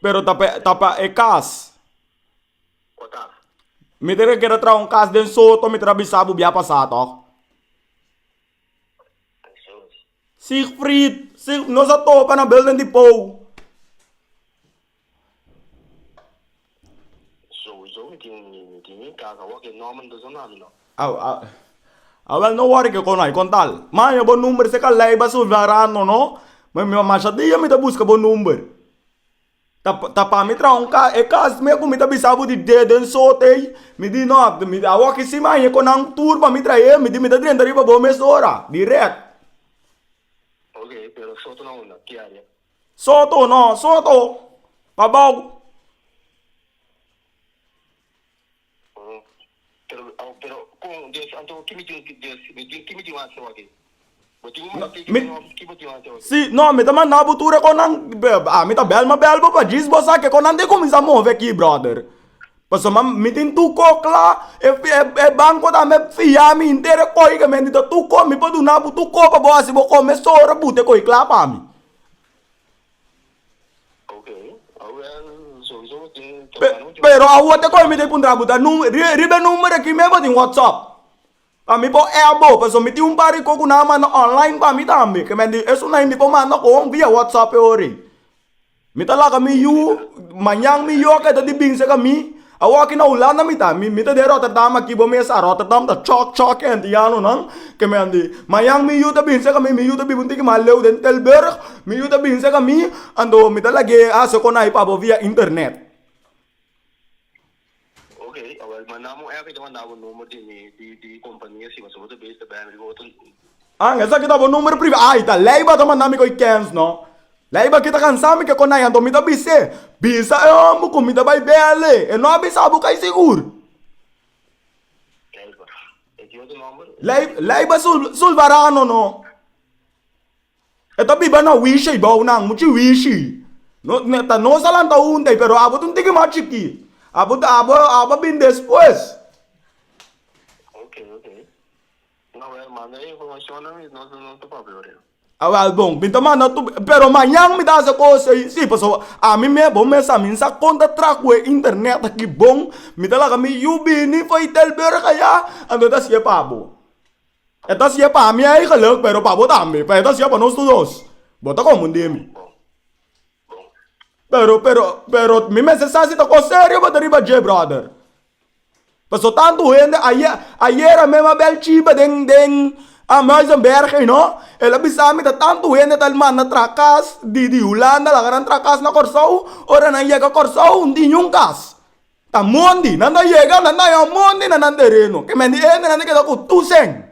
Pero ta pa, ta pa e cas. Cu ta? Mi ta keda traha un cas den Soto, mi ta bisa bo bia pasa toch? Jesús. Siegfried, Sieg, nos a toca na Building Depot. Souzo mi tin mi tin mi casa awor ke Norman ta zona mi no. A wel no worry ke kono ai kontal maña bo number se ka leiba su verano no mi mi masha dia mi ta buska bo number ta ta pa mi traha un cas e cas me ku mi ta bisa bo di dedo en sote ei mi di no awor ke si maña kon nan tur pa mi trahe mi di mi ta drenta riba bo mesora direct. Oke pero sotenan unda ki area. Soto, no, Soto, pa bou. Si, no, mi ta manda bo tur e konan, mi ta bel, mi a bel bo pa djis bo sa ke konan tin kuminsá move aki, bròder. Pasobra ma mi tin tur kos kla. E banko ta me fia mi henter e kochi ke mi a nita tur kos. Mi por duna bo tur kos pa bo hasi bo kos mesun ora but e kochi kla pa mi. Pero awor te kochi mi ta puntra bo ta riba e number aki mi bo tin whatsapp. Pa mi bo e abo, paso mi tin un par di ko ku nan a manda online pa mi tambe. Ke men di esunai mi ko manda ku hon via WhatsApp e ora ei. Mi ta laga mi yu, mañan mi yu a keda di binse ka mi. Awor ki na Hulanda mi ta, mi ta den Rotterdam aki bo mes a Rotterdam ta chòk chòk e antianonan. Ke men di, mañan mi yu ta binse ka mi, mi yu ta biba un tiki mas leu den Tilburg, mi yu ta binse ka mi, anto mi ta lag'é hase konai pa bo via internet. Ok, awor manda mo app i ta manda bo number di mi di kompania si pasobra bo ta bes ta bèl riba otro. An, esaki ta bo number priva. Ai ta Leiva ta manda mi ku e kèns no. Leiva kita kansa mi ke kon ai anto mi ta bis'é, bisa e homber ku mi ta bai bèl'é, e no a bisa bo kai sigur. Leiva, e ki otro nomber? Lei, Leiva Sul, Sulvarano no. E ta biba na wishi y bou nan muchi wishi ta nos a lanta hunta pero abo ta un tiki mas chiki abo ta abo abo a bin despues. Awel bon mi ta manda tu pero mañan mi ta hasi e cos ey si pasobra ami mes bo mes ami sa conta trahuey internet aki bon mi ta laga mi yu bini fai telburg aya anto mi ta hasiye pa bo. E ta siye pa mi ei geluk, pero pa bo tambe, pa e ta siye pa nos tur dos. Bo ta confunde mi. Pero, pero, pero mi mester sa si ta cos serio bo ta riba dje, brother. Paso tanto hende, aye, ayera mem a bel cibe den, den, a Muizenberg, you know. El a bisa mi ta tanto hende ta manda tra cas di, di Hulanda laga nan tra cas na Corsou. Ora nan yega Corsou, ntin niun cas. Ta mondi, nan ta yega, nan ta yon mondi na nan tereno. Ke men di hende nan ta keda ku tusen.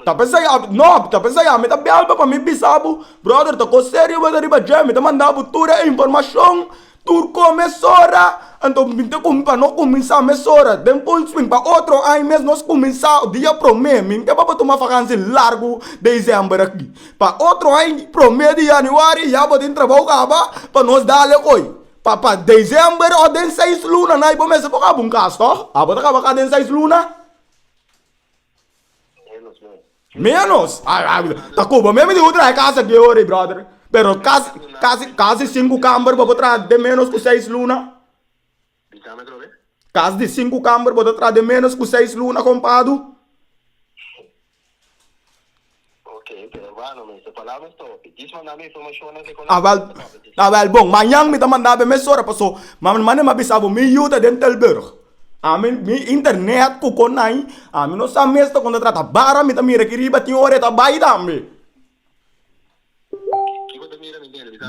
Ta pensa ya, no, ta pensa ya mi ta belbo pa mi bisa bo, Brother, ta kos serio bo ta riba dje, mi ta manda bo tur e informashon Tur con mesora, anto mi te cumi pa no cuminsa mesora. Den Fullswing pa otro aña mes nos cuminsa dia prome. Mi te baba tuma vakansi largu december aki. Pa otro aña prome di januari ya bo tin trabao caba pa nos dale coy. Pa pa december of den seis luna na y bo mester por caba un cas toh? Abo ta caba cas den seis luna? Menos. Ta cuba meme di bo traha e casa die ora y brother. Pero casi casi casi cinco camber bo bo traha den menos cu seis luna. Cas di cinco camber bo ta traha den menos cu seis luna compado. Awel awel bon mañan mi ta manda be mesora paso mane mi a bisa bo mi yu ta den Tilburg. Ami mi internet ku kon ai ami no sa mes kon ta trata bara mi ta mira aki riba tin ora e ta bai tambe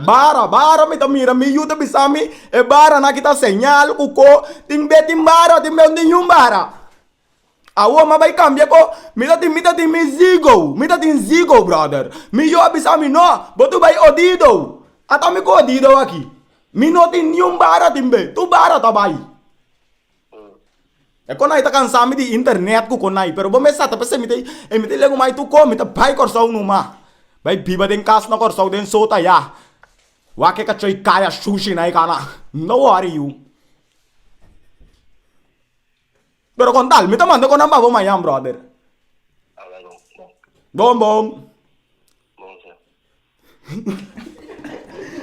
bara bara mi ta mira mi yu ta bisa mi e bara na ki ta señal ku ko tin be tin bara tin be no tin niun bara. Awor mi a bai cambia cu mi ta tin, mi ta tin mi zigo, mi ta tin zigo brother. Mi yo a bisa mi no, bo tu bai odido, ata mi cu odido aki. Mi no tin ni un bara tin be, tur bara ta bai. E con ai ta cansa mi di internet cu con ai, pero bo mester sa ta p'esei mi ta, e mi ta lega un mai tur con, mi ta bai Corsou no ma. Bai biba den cas na Corsou den sota ya. Wak e cachoi caya shushi na e cana, no worry yu. Pero con tal, mi ta manda conan pa bo mañan, brother. Ala lo, bon. Bon, bon. Bon, sir.